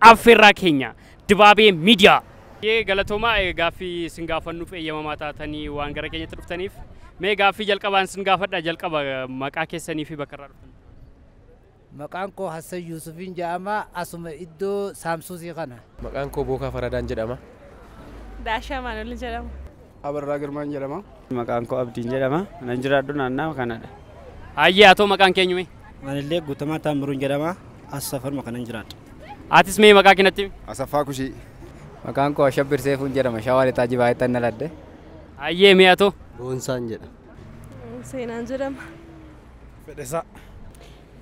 Affeerraa keenya Dibaabee Miidiyaa. Baay'ee galatoomaa gaaffii isin gaafannuuf eeyyamamaa taatanii waan gara keenyatti dhuftaniif. Mee gaaffii jalqabaan isin gaafadha jalqaba maqaa keessanii fi bakka irraa dhuftan. Maqaan koo Hassan Yuusufiin jedhama asuma iddoo Saamsuusii kana. Maqaan koo Bookaa Faradaan jedhama. Daashaa Maanuel jedhama. Abarraa Girmaan jedhama. Maqaan koo Abdiin jedhama. Nan jiraadhu naannaa kanadha. Hayyee atoo maqaan keenyu mee? Anillee Guutamaa Taammiruun jedhama. As safaruma kanan jiraadha. Atis mee maqaa keenatti himi? Asaffaa Kushii. Maqaan koo Ashabbir Seefuun jedhama. Shawaa Lixaa Jibaayetti anna ladde. Hayyee mee atoo? Boonsaan jedhama. Seenaan jedhama. Fedhesaa.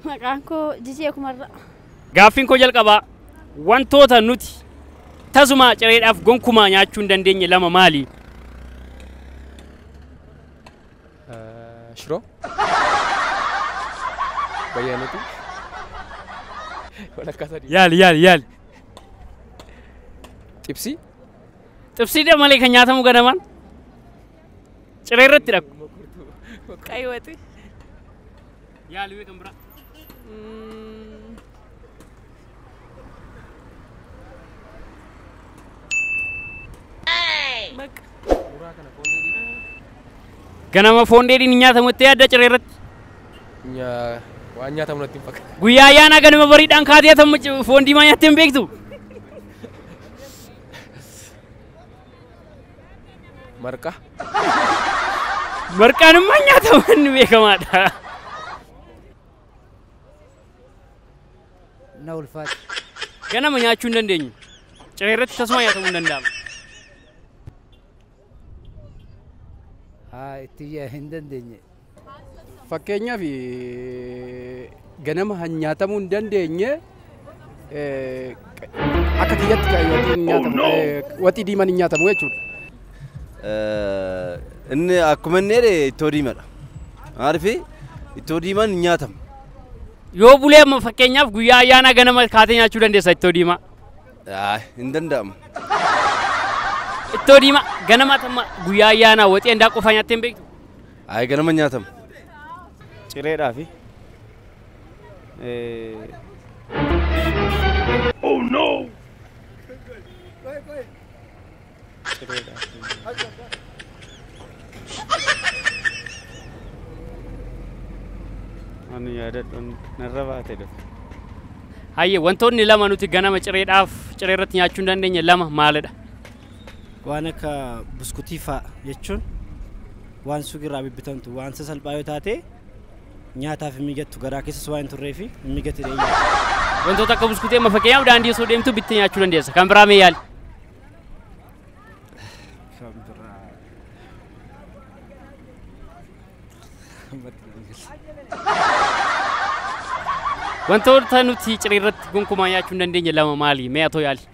Maqaan koo Jijee Kumarraa. Gaaffiin koo jalqabaa wantoota nuti tasumaa cireedhaaf gonkumaa nyaachuu hin dandeenye lama maali? Shiroo. Bayyaanuuti. Walakkaa sadii. Yaali yaali yaali. Xibsii. Xibsiidha malee kan nyaatamu ganamaan ciree irratti dhaqu. Qayyoote. Yaali mee kan biraa. Mm. Bakka. Ganama foon dheedhiin hin nyaatamu itti yaadda ciree irratti. Nyaa- waan nyaatamu natti hin fakkaatu. Guyyaa ayyaanaa ganama bariidhaan kaatee atamu foon diimaa nyaattee hin beektu. Marqa. Marqaan immoo nyaata manni beekamaadha. Na ulfaate. Ganama nyaachuu hin dandeenyu. Ciree irratti tasuma nyaatamuu hin danda'amu. Haa itti hin dandeenye. Fakkeenyaaf ganama kan nyaatamuu hin dandeenye akka kiyyatti kan yookiin nyaatamu ta'ee waxii diimaan hin nyaatamu jechuudha. Inni akkuma inni jedhe ittoo diimadha. Maaliif ittoo diimaan hin nyaatamu. Yoo bulee amma fakkeenyaaf guyyaa ayyaanaa ganama kaatee nyaachuu dandeessa ittoo diimaa. Aay, Hin danda'amu. Ittoo diimaa ganama tamma guyyaa ayyaanaa waxii handaa qofaa nyaattee hin beektu. Ayi ganama nyaatamu. Cireedhaafi. Ani yaadadhuun narra baate dhufe. Hayyee wantoonni lama nuti ganama cireedhaaf ciree irratti nyaachuu hin dandeenye lama maalidha? waan akka buskutii fa'a jechuun waan suuqirraa bibbitamtu waan sasalphaa yoo taate nyaataaf hin mijattu garaa keessas waan hin turree fi hin mijatti dheeyyaa. Wantoota akka buskutii amma fakkeenyaaf daandii osoo deemtu bittee nyaachuu dandeessa. Kan biraa mee yaali? Kan biraa. Ammatti nan gala. Wantoota nuti ciree irratti gonkumaa nyaachuu hin dandeenye lama maali? Mee atoo yaali?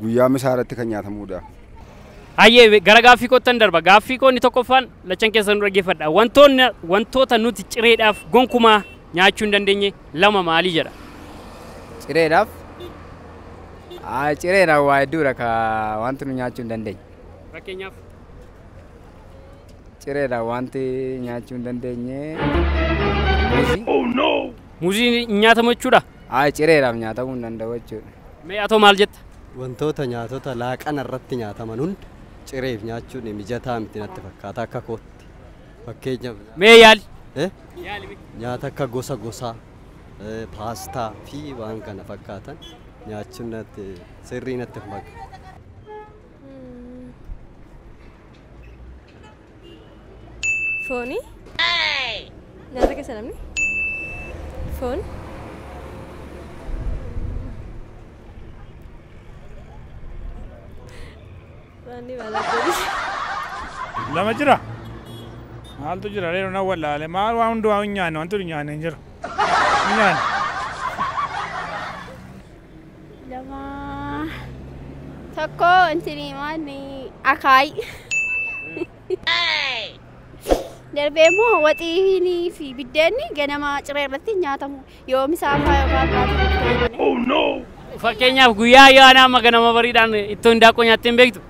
Guyyaa misaa irratti kan nyaatamuudha. Hayyee gara gaaffii koottan darba. Gaaffii koo inni tokkoffaan lachan keessan nu dhaggeeffadha. Wantoonni wantoota nuti cireedhaaf gonkumaa nyaachuu hin dandeenye lama maalii jedha? Cireedhaaf? Aa, Cireedhaaf waa hedduudha ka wanti nu nyaachuu hin dandeenye. Fakkeenyaaf Cireedhaaf wanti nyaachuu hin dandeenye. Muuzii? muuzii hin nyaatamu jechuudha. Ayi cireedhaaf nyaatamuu hin danda'u jechuudha. Mee atoo maal jetta? Wantoota nyaatota laaqana irratti nyaataman hunda cireef nyaachuun mijataa miti natti fakkaata akka kootti. Fakkeenyaaf nyaata. Mee yaali. Eh? Yaali mee. Nyaata akka gosa gosaa, eh, paastaa fi waan kana fakkaatan nyaachuun natti sirrii natti hin fakkaatu. Fooni. Nyaata keessa namni. Foon. Waanni maalaa jedhu. Lama jira. Maaltu jira reeru na wallaale maal waa hundumaa hin nyaanne wanti hin nyaanne hin jiru. Hin nyaanne. lama tokko intini maanni akaay darbee immoo waxiinii fi biddeenni ganama ciree irratti hin nyaatamu yoo misaa faa yookaan baatu Fakkeenyaaf guyyaa ayyaanaa amma ganama bariidhaan ittoo hindaaqqoo nyaattee hin beektu.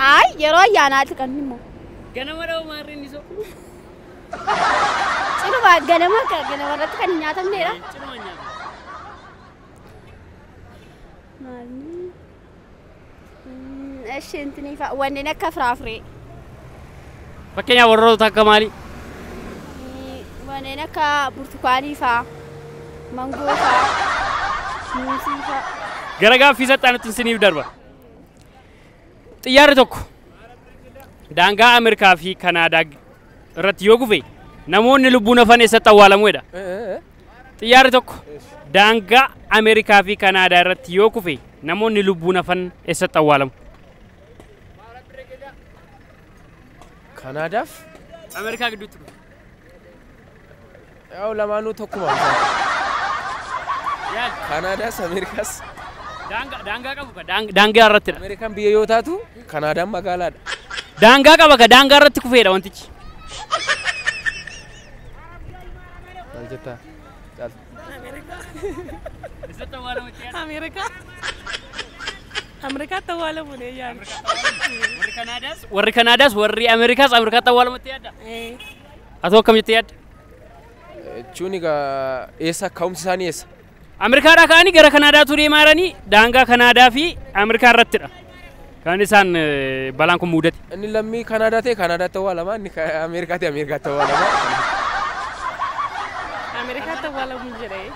Ay yeroo ayyaanaati kan immoo Ganama dha'u maarri inni so. ciruma ganama ganama irratti kan hin nyaatamneedha. Ciruma nyaata. Maalni? Eshi intini fa wanneen akka firaafiree. Fakkeenyaaf warroota akka maalii? Wanneen akka burtukaanii faa. Mangoo faa. Muuzii faa. Gara gaaffii saxxaanutti isiniif darba. Xiyyaarri tokko daangaa Ameerikaa fi Kanaadaa irratti yoo kufe namoonni lubbuun hafan eessatti awwaalamu jedha. Xiyyaarri tokko daangaa Ameerikaa fi Kanaadaa irratti yoo kufe namoonni lubbuun hafan eessatti awwaalamu? Kanaadaaf Ameerikaa gidduutti kufe. yaa'u lamaanuu tokkuma. Yaali. Kanaadaas Ameerikaas. Daangaa daangaa qabu ka daang- daangaa irratti dha. Ameerikaan biyya yoo taatu Kanaadaan magaalaadha. Daangaa qaba ka daangaa irratti kufeedha wantichi. Maal jettaa? Caaltu. Ameerikaa. Ameerikaatti awwaalamuun eeyyaan. Warri Kanaadaas warri Ameerikaas Ameerikaatti awwaalamutti yaadda. Atoo akkam jettee yaadda? Jechuun egaa eessa ka'umsi isaanii eessa? Ameerikaadhaa ka'anii gara Kanaadaatuu deemaa jiranii daangaa Kanaadaa fi Ameerikaa irrattidha. Kan isaan eh, balaan kun muudate. Inni lammii Kanaadaa ta'e Kanaadaatti awwaalama, inni ka- Ameerikaa ta'e Ameerikaatti awwaalama. Ameerikaatti awwaalamu jedhee.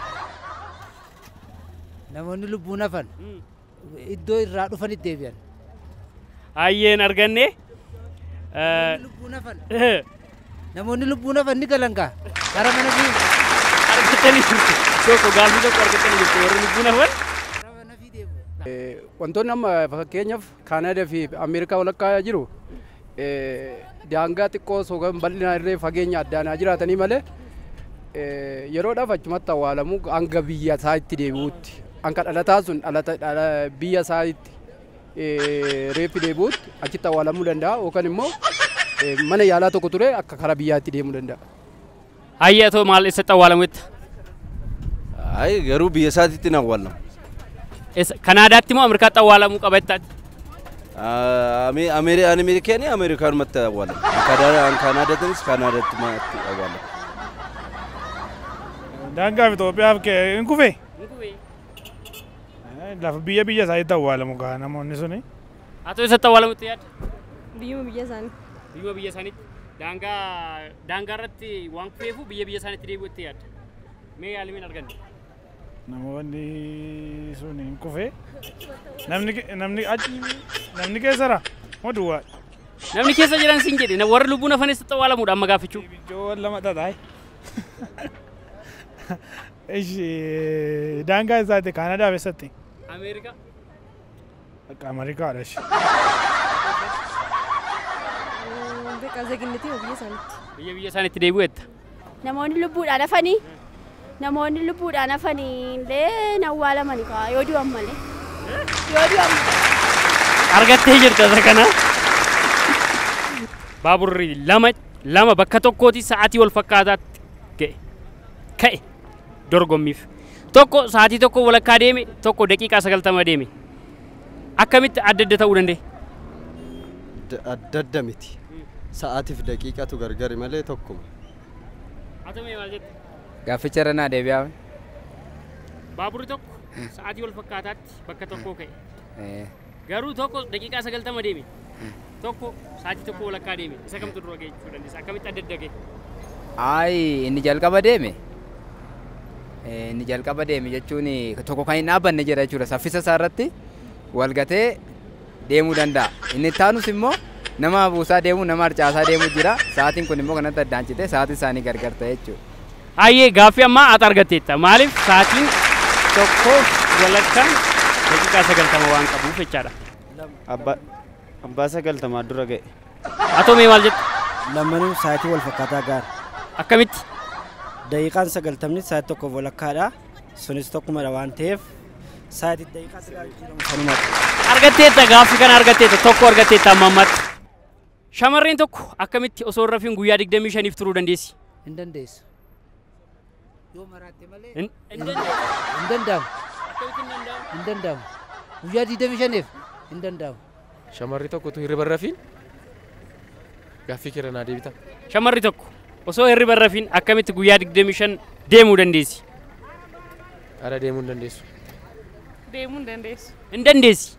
Namoonni lubbuun hafan iddoo irraa dhufanitti deebi'an. Hayyeen arganne. Namoonni lubbuun hafan. Namoonni lubbuun hafan ni galan kaa. Gara mana fi Argattanii jirtu. Tokko gaaffii tokko argattanii jirtu. Warri lubbuun hafan. gara mana fi deebi'u. Wantoonni amma fakkeenyaaf Kaanaadaa fi Ameerikaa walakkaa jiru daangaa xiqqoo osoo hin bal'inaa irree fageenya addaan haa jiraatanii malee yeroodhaaf achumatti awwaalamu hanga biyya isaa itti deebi'utti hanga dhalataa sun biyya isaa itti reeffi deebi'utti achitti awwaalamuu danda'a yookaan immoo mana yaalaa tokko ture akka karaa biyyaatti deemuu danda'a. Hayyee atoo maal eessatti awwaalametta? Ayi garuu biyya isaatiitti hin awwaallamu. Eessa- Kanaadaatti moo Ameerikaatti awwaalamuu qaba jettaati? Ameerikaanii Ameerikaanumatti awwaalamu. Kan Kanaadaatiinis Kanaadaatti awwaalamu. Daangaa fi Itoophiyaaf kee hin kufe. Lafa biyya biyya isaaniitti awwaalamu kaa namoonni suni. Atoo eessatti awwaalamutti yaadda? Biyyuma biyya isaanii. Biyyuma biyya isaaniitti daangaa daangaa irratti waan kufeefuu biyya biyya isaaniitti deebi'u itti yaadda. Mee yaalimiin arganne. Namoonni sun hin kufe. Namni ke- namni achi namni keessara moo duwwaa? Namni keessa jiran siin jedhe warri lubbuun hafanis xawwaalamuudha amma gaaffichuu. Ibiddoon lama dhadhaa'e. Ishi daangaa isaati Kaanadaa keessatti. Ameerikaa. Akka Ameerikaa dhashe. Beekaa zeeginnitii biyya isaaniitti. Biyya biyya isaaniitti deebi'u jetta. Namoonni lubbuudhaan hafanii namoonni lubbuudhaan hafanii illee hin awwaalamani kaa yoo du'an malee. Yoo du'an Argattee jirta isa kana. Baaburri lama lama bakka tokkooti sa'aatii wal fakkaataatti ga'e. Ka'e. dorgommiif. Tokko sa'aatii tokko walakkaa deeme, tokko daqiiqaa sagaltama deeme. Akkamitti adda adda ta'uu danda'e? D- Adda adda miti. Sa'aatiif daqiiqatu gargari malee tokkuma. Atamee maal jette? Gaafficha irra naa deebi'aa. Baaburri tokko sa'aatii wal fakkaataatti irratti bakka tokkoo ka'e. Eh, Garuu tokko daqiiqaa sagaltama deeme. Tokko sa'aatii tokko walakkaa deeme. Isa kamtu dura ga'e jechuu dandeessa. Akkamitti adda adda ga'e? Ayi inni jalqaba deeme. Eh, Inni jalqaba deeme jechuun tokko kan hin dhaabbanne jira jechuudha. Saffisa isaa irratti wal gatee deemuu danda'a. Inni itti aanus immoo nama hafuusaa deemu, nama harcaasaa deemu jira. Sa'aatiin kun immoo kanatti addaan citee sa'aatiin isaanii gargar ta'e jechuudha. Hayyee gaaffii ammaa ati argatteetta. Maaliif sa'aatiin tokkoof walakkaan daqiiqaa sagaltama waan qabuuf jechaadha. Abba, abbaa sagaltamaa dura ga'e. Atoo mee maal jettu? Lammanuu sa'aatii wal fakkaataa gaara. Akkamitti? Daqiiqaan sagaltamni sa'aatii tokkoof walakkaadha. Sunis tokkumadha waan ta'eef Saayid daqiiqaa sirraa jijjiiramu kanuma. Argatteetta gaaffi kana argatteetta tokko argatteetta amma ammatti. Shamarreen tokko akkamitti osoo hin rafiin guyyaa 25f turuu dandeessi? Hin dandeessu. Yoo maraatte malee Hin hin danda'amu. Hin danda'amu. Guyyaa 25f hin danda'amu. Shamarri tokko utuu hirriba hin rafiin gaaffii keerra naa deebita. Shamarri tokko osoo hirriba hin rafiin akkamitti guyyaa 25 deemuu dandeessi? Ara deemuu hin dandeessu. Deemuu hin dandeessu. Hin dandeessi.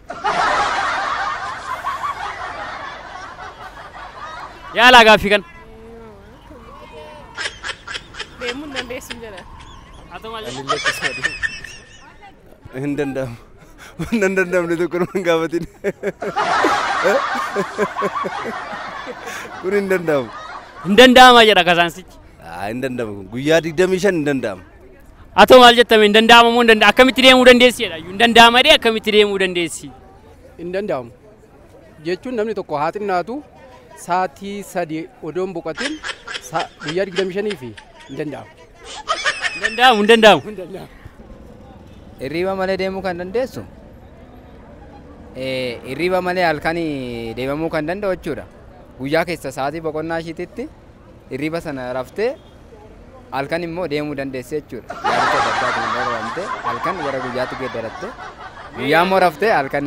Yaalaa gaaffii kana. Deemuu hin dandeessu jedha. Haa ta'u malee. Anillee akkasuma deemu. Hin danda'amu. Waan hin danda'amne tokko nama hin gaafatin. Kun hin danda'amu. Hin danda'ama jedha kasaansichi. Aa, Hin danda'amu kun. Guyyaa 25 hin danda'amu. Atoo maal jettame hin danda'ama moo hin danda'ama akkamitti deemuu dandeessi jedha. Hin danda'ama dee akkamitti deemuu dandeessi. Hin danda'amu. jechuun namni tokko haa xinnaatu saatii sadi odoon boqatin sa- guyyaa 25 fi hin danda'amu. Hin danda'amu hin danda'amu. Hin danda'amu. Hirriba malee deemuu kan dandeessu eh, hirriba malee halkan deemamuu kan danda'u jechuudha. Guyyaa keessa sa'aatii boqonnaa ishiititti hirriba sana raftee halkan immoo deemuu dandeessi jechuudha. Yaadota adda addaatiin darbamtee halkan gara guyyaatti geeddarattee guyyaa immoo raftee halkan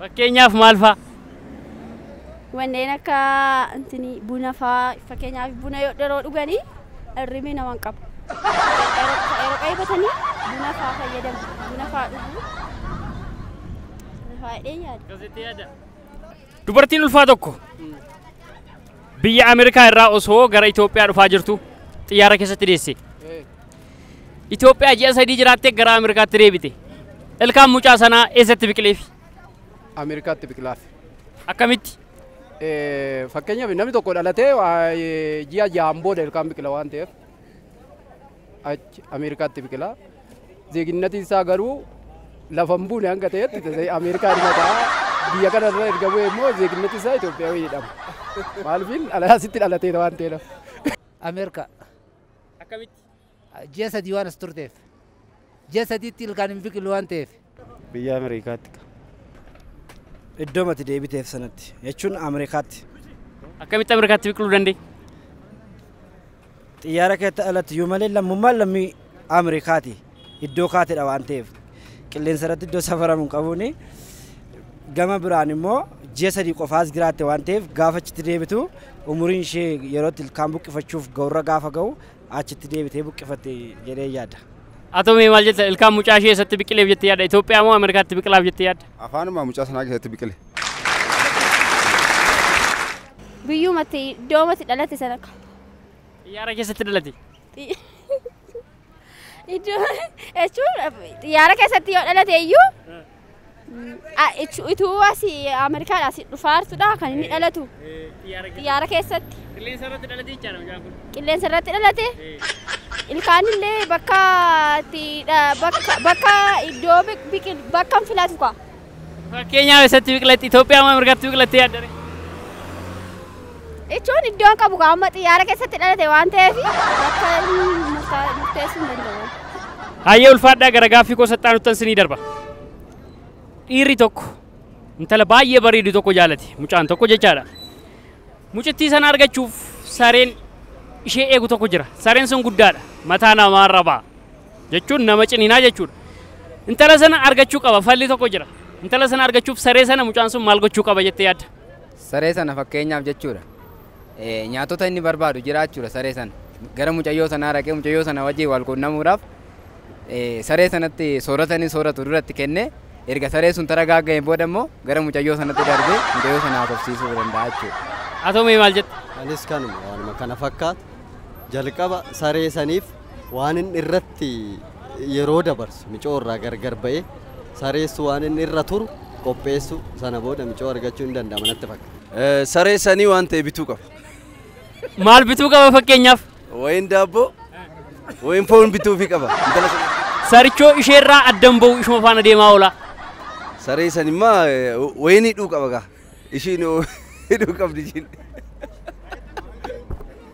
Fakkeenyaaf maal faa? Wanneen akka intini buna faa fakkeenyaaf buna yoo dheroo dhuganii irrimi nama hin qabu. Yeroo qaybatanii buna faa fayyadamu. Buna faa dhuguu. Buna faa jedhee yaada. Dubartiin ulfaa tokko biyya Ameerikaa irraa osoo gara Itoophiyaa dhufaa jirtu xiyyaara keessatti deesse. Itoophiyaa ji'a sadii jiraattee gara Ameerikaatti deebite. Ilkaan mucaa sanaa eessatti biqileef? Ameerikaatti biqilaaf. Akkamitti? Eh, Fakkeenyaaf namni tokko dhalatee waa, eh, ji'a ja'aan booda ilkaan biqila waan ta'eef achi Ameerikaatti biqila. Zeeginnatiin isaa garuu lafa hin buune hanga ta'etti ta'e Ameerikaa irra ta'a. Biyya kana irra erga bu'e immoo zeeginnati isaa Itoophiyaa jedhama. Maaliif dhalaasitti dhalatee waan ta'eef. Ameerikaa. Akkamitti? Ji'a sadii waan as turteef. Ji'a sadiitti ilkaan hin biqilu waan ta'eef. Biyya Ameerikaatti ka. Iddoo mati deebiteef sanatti jechuun Ameerikaatti. Akkamitti Ameerikaatti biqiluu danda'e? Xiyyaara keetti alatti yoo malee lammummaan lammii Ameerikaati. iddoo kaatedha waan ta'eef qilleensa irratti iddoo safaramu hin qabuuni. Gama biraan immoo ji'a sadii qofaas jiraatte waan ta'eef gaafa achitti deebitu umuriin ishee yerootti ilkaan buqqifachuuf ga'urra gaafa ga'u achitti deebitee buqqifatte jedhee yaada. Atomii maal jetta ilkaan mucaa ishee eessatti biqileef jettee yaadda Itoophiyaa moo Ameerikaatti biqilaaf jettee yaadda? Afaanuma mucaa sanaa keessatti biqile. Biyyumatti iddoomatti dhalate sana akka. Xiyyaara keessatti dhalate. Iddoo jechuun xiyyaara keessatti yoo dhalate iyyuu a- ichu- ituu asii Ameerikaadhaa asii dhufaa jirtudha kan inni dhalatu xiyyaara keessatti Qilleensa irratti dhalatee jechaadha mucaan kun. qilleensa irratti dhalate ilkaan illee bakka itti dha- bakka bakka iddoo biqil bakka hin filatu kaa. Fakkeenyaaf eessatti biqilatti? Itoophiyaa moo Ameerikaatti biqilattee yaadda ree? Jechuun iddoon qabu kaa amma xiyyaara keessatti dhalate waan ta'eef bakka inni murtaa- murteessuu hin danda'u. Hayyee ulfaadhaa gara gaaffii koo saxxaanuttan sinii darba. Dhiirri tokko intala baay'ee bareedu tokko jaalate mucaan tokko jechaadha. Mucittii sana argachuuf sareen ishee eegu tokko jira. Sareen sun guddaadha. Mataa namaarra ba'a. jechuun nama ciniinaa jechuudha. Intala sana argachuu qaba falli tokko jira. Intala sana argachuuf saree sana mucaan sun maal gochuu qaba jettee yaadda? Saree sana fakkeenyaaf jechuudha. Eh, Nyaatota inni barbaadu jira jechuudha saree sana. Gara mucayyoo sanaa dhaqee mucayyoo sana wajjin wal quunnamuudhaaf eh, saree sanatti soorata inni sooratu duratti kennee erga saree sun taragaaga'een booda immoo gara mucayyoo sanatti darbee mucayyoo sana haasofsiisuu danda'a jechuudha. Haa ta'u mee maal jetta? Anis kanuma waanuma kana fakkaatu jalqaba saree saniif Waan inni irratti yeroo dabarsu micoo irraa gargar ba'ee sareessu waan inni irra turu qopheessu sana booda micoo argachuu hin danda'ama natti fakkaata. Eh, Saree sanii waan ta'e bituu qaba. Maal bituu qaba fakkeenyaaf? Wayiin daabboo, wayiin foon bituufi qaba. Intala sana. Sarichoo isheerraa addan ba'u ishuma faana deemaa oola. Saree san immaa eh, wayiin hidhuu qaba gaa. Ishiin hidhuu qabdi ishiin.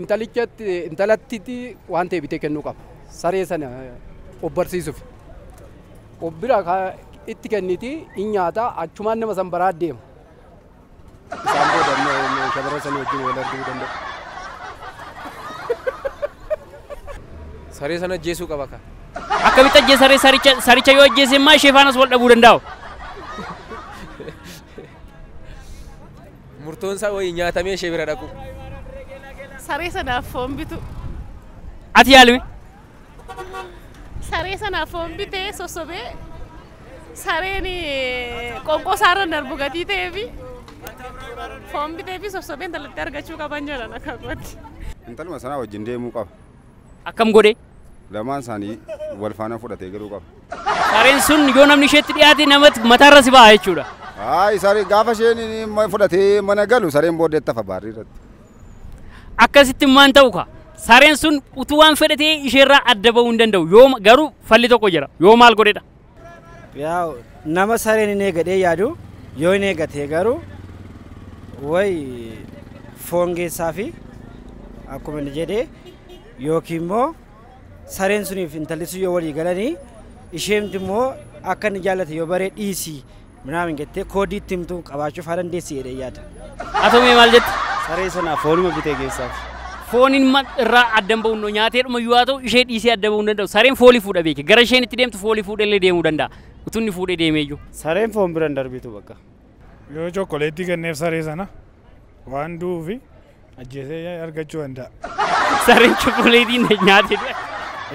intalichatti intalattiti waan ta'e bitee kennuu qaba. Saree sana obbarsiisuuf. Of bira itti kenniti in nyaata achumaan nama san baraa deema. Isaan booda immoo shabara sana wajjin wal arguu danda'u. Saree sana ajjeesuu qaba ka. Akkamitti ajjeesa saree saricha saricha yoo ajjeese immaa ishee faanas wal dhabuu danda'u. Murtoon isaa wayii nyaatamee ishee bira dhaquu. Saree sanaaf foon bituu. Ati yaalime. Saree sanaaf foon bitee sossobee sareen eh, qoonqoo isaarra darbu gatii ta'ee fi foon bitee fi sossobee intalattii argachuu qaban jedhan akka kooti. Intaluma sanaa wajjin deemuu qaba. Akkam godhe? Lamaan isaanii wal faana fudhatee galuu qaba. Sareen sun yoo namni isheetti dhiyaate namatti mataarra si ba'a jechuudha. Haa isaan gaafa isheen ma- fudhatee mana galu sareen booddee tafa baarrii irratti. Akkasitti maan ta'u ka? Sareen sun utuu waan fedhatee isheerraa adda ba'uu hin danda'u. Yoo ma- garuu falli tokko jira. Yoo maal godhedha? Yaa nama sareen hin eegadhee yaadu yoo hin eegatee garuu way foon geessaa fi akkuma inni jedhee yookiin immoo sareen suniif intalli sun yoo walii galanii isheemti immoo akka inni jaallate yoo baree dhiisii Minaamin jettee koodii itti himtu qabaachuuf haa dandeessi jedhee yaada. Haa ta'u mee maal jette? Saree sanaa foonuma bitee geessaaf. Foon ilma irraa adda hin ba'u noo nyaatee dhuma iyyuu haa ta'u ishee dhiisee adda ba'uu hin danda'u. Sareen foolii fuudha beeki. Gara isheen itti deemtu foolii fuudhee illee deemuu danda'a. Utuu inni fuudhee deemee iyyuu. Sareen foon bira hin darbitu bakka. Yoo chokkoleettii kenneef saree sana waan du'uufi Ajjeesee argachuu danda'a. Sareen chokkoleetii na nyaate du'e.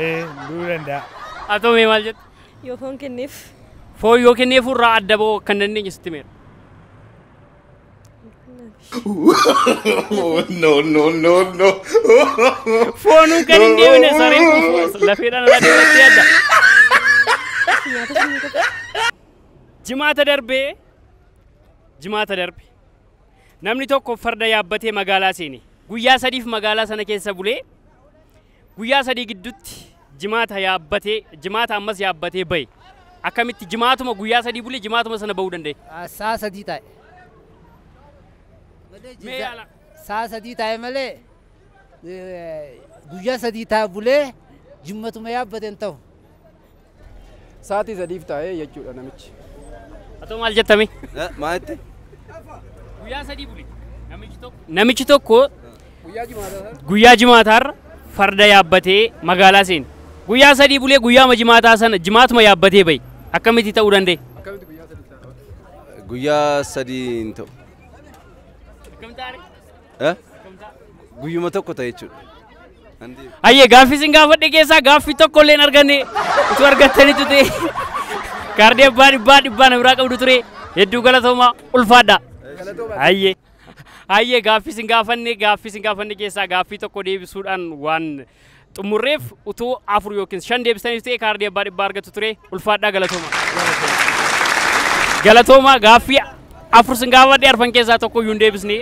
Ee du'uu danda'a. Haa ta'u mee maal jettu? Yoo foon kenneef. Foon yoo kenneef irraa adda ba'uu akka hin dandeenye sitti meera. no, no, no, no. Foonuu kan hin deemne sareen kun lafeedhaan irraa deemattee adda. Jimaata darbee jimaata darbe Namni tokko farda yaabbatee magaalaa seene. Guyyaa sadiif magaalaa sana keessa bulee guyyaa sadii gidduutti jimaata yaabbatee jimaata ammas yaabbatee bahe. Akkamitti jimaatuma guyyaa sadii bulee jimaatuma sana bahuu danda'e? Saa sadii taa'e. Mee yaala. Saa sadii taa'e malee guyyaa sadii taa'e bulee jimmatuma yaabbate hin ta'u. Sa'aatii sadiif taa'ee jechuudha namichi. Atoo maal jettami? Maalitti? Guyyaa sadii bule. Namichi tokko. Namichi tokko Guyyaa jimaataa sana guyyaa jimaataarra farda yaabbatee magaalaa seene. Guyyaa sadii bulee guyyaama jimaataa sana jimaatuma yaabbatee bahe. Akkamitti ta'uu danda'e? akkamitti guyyaa sadii ta'a? Guyyaa sadii hin ta'u. Akkamitti ta'e? Eh? Guyyuma tokko ta'e jechuudha. Nan deema. Hayyee gaaffii isin gaafadhe keessaa gaaffii tokko illee hin arganne utuu argattanitu ta'e kaardii abbaa dhibbaa dhibbaa na biraa qabdu ture hedduu galatoomaa ulfaadha. Hayyee hayyee gaaffii isin gaafanne gaaffii isin gaafanne keessaa gaaffii tokko deebisuudhaan waan xumurreef utuu afur yookiin shan deebistaniif ta'e kaardii abbaa dhibbaa argattu ture ulfaadhaa galatooma. Galatooma gaaffii afur sin gaafadhe arfan keessaa tokko iyyuu hin deebisne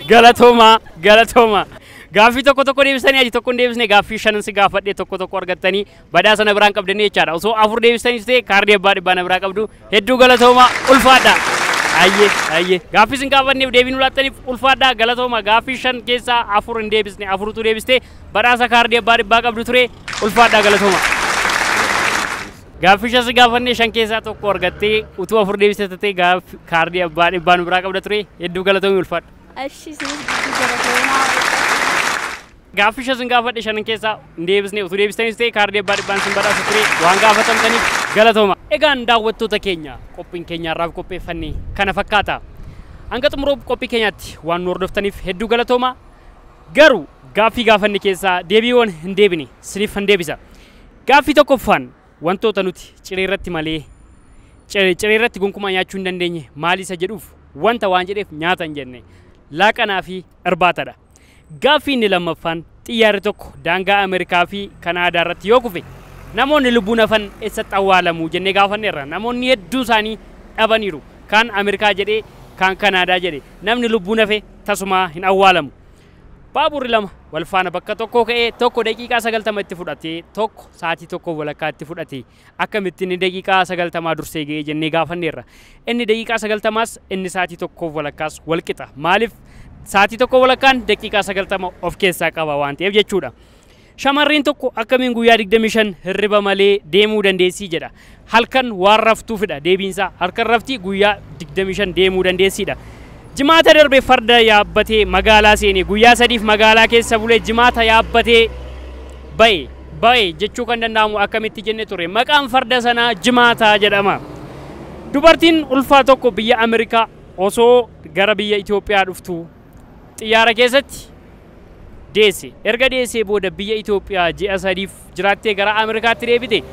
galatooma galatooma. Gaaffii tokko tokko deebistanii aji tokko hin deebisne gaaffii shanan si gaafadhe tokko tokko argattanii badhaasa na biraan qabdanii jechaadha. Osoo afur deebistaniif ta'e kaardii abbaa dhibbaa na biraa qabdu Hedduu galatoomaa ulfaadhaa. Hayyee hayyee gaaffii isin gaafanneef deebii nu laattaniif ulfaadhaa galatooma gaaffii shan keessaa afur hin deebisne afurutu deebiste badhaasa kaardii abbaa dhibbaa qabdu ture ulfaadhaa galatooma. Gaaffii shan si gaafannee shan keessaa tokko argattee utuu afur deebiste tatee gaaffi kaardii abbaa dhibbaa nu biraa qabda ture hedduu galatoomi ulfaadha. Ashi isinis giddu galatoomaa. Gaaffii shan sin gaafadhe shanan keessaa hin deebisne utuu deebistaniis ta'e kaardii abbaa dhibbaan sin badhaasa ture waan gaafatamtaniif galatooma. Egaan daawwattoota keenya qophiin keenya har'aaf qopheeffanne kana fakkaata. Hanga xumura qophii keenyaatti waan nu hordoftaniif hedduu galatooma. Garuu gaaffii gaafanne keessaa deebiiwwan hin deebine siniif hin deebisa. Gaaffii tokkoffaan wantoota nuti ciree irratti malee cir- ciree irratti gonkumaa nyaachuu hin dandeenye maali isa jedhuuf wanta waan jedheef nyaata hin jenne laaqanaa fi irbaatadha. Gaaffii inni lammaffaan, xiyyaarri tokko daangaa Ameerikaa fi Kanaadaa irratti yoo kufe namoonni lubbuun hafan essatti awwaalamu jennee gaafanneerra. Namoonni hedduun isaanii dhabaniiru. Kaan Ameerikaa jedhee, kaan Kanaadaa jedhe. Namni lubbuun hafe tasumaa hin awwaalamu. Baaburri lama wal faana bakka tokkoo ka'ee tokko daqiiqaa 90 itti fudhatee tokko sa'aatii tokkoof walakkaa itti fudhate. Akkamitti inni daqiiqaa sagaltamaa dursee ga'e jennee gaafanneerra. Inni daqiiqaa sagaltamaas inni saatii tokkoof walakkaas wal qixa. Maaliif? Saatii tokko walakkaan daqiiqaa sagaltama of keessaa qaba waan ta'eef jechuudha. Shamarreen tokko akkamiin guyyaa 25 hirriba malee deemuu dandeessii jedha. Halkan waan raftuufidha deebiinsaa. Halkan rafti guyyaa 25 deemuu dandeessiidha. Jimaata darbe farda yaabbatee magaalaa seene. Guyyaa sadiif magaalaa keessa bulee jimaata yaabbatee ba'e. Ba'e jechuu kan danda'amu akkamitti jenne turre. Maqaan farda sanaa Jimaataa jedhama. Dubartiin ulfaa tokko biyya Ameerikaa osoo gara biyya Itoophiyaa dhuftuu xiyyaara keessatti deesse. Erga deessee booda biyya Itoophiyaa ji'a sadiif jiraattee gara Ameerikaatti deebite.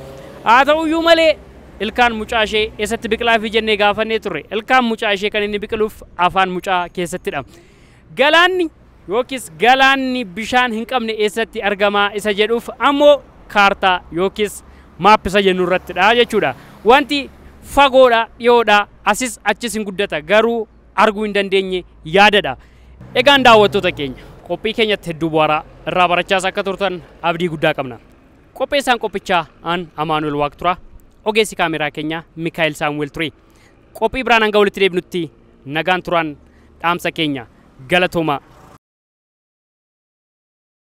Haa ta'uyyuu malee ilkaan mucaa ishee eessatti biqilaafi jennee gaafannee turre. Ilkaan mucaa ishee kan inni biqiluuf afaan mucaa keessattidha. Galaanni yookiis galaanni bishaan hin qabne eessatti argamaa isa jedhuuf ammoo kaartaa yookiis maap isa jennu irrattidha jechuudha. Wanti fagoodha, dhiyoodha, asis achis hin guddata garuu arguu hin dandeenye yaadadha. Egaan daawwattoota keenya qophii keenyatti hedduu bu'aaraa irraa barachaas akka turtan abdii guddaa qabna. Qopheessaan qophichaa aan Amaanuel Waaq turaa ogeessi kaameeraa keenyaa Mikaa'el Saamu'el ture. Qophii biraan hanga walitti deebinutti nagaan turaan dhaamsa keenya galatoomaa.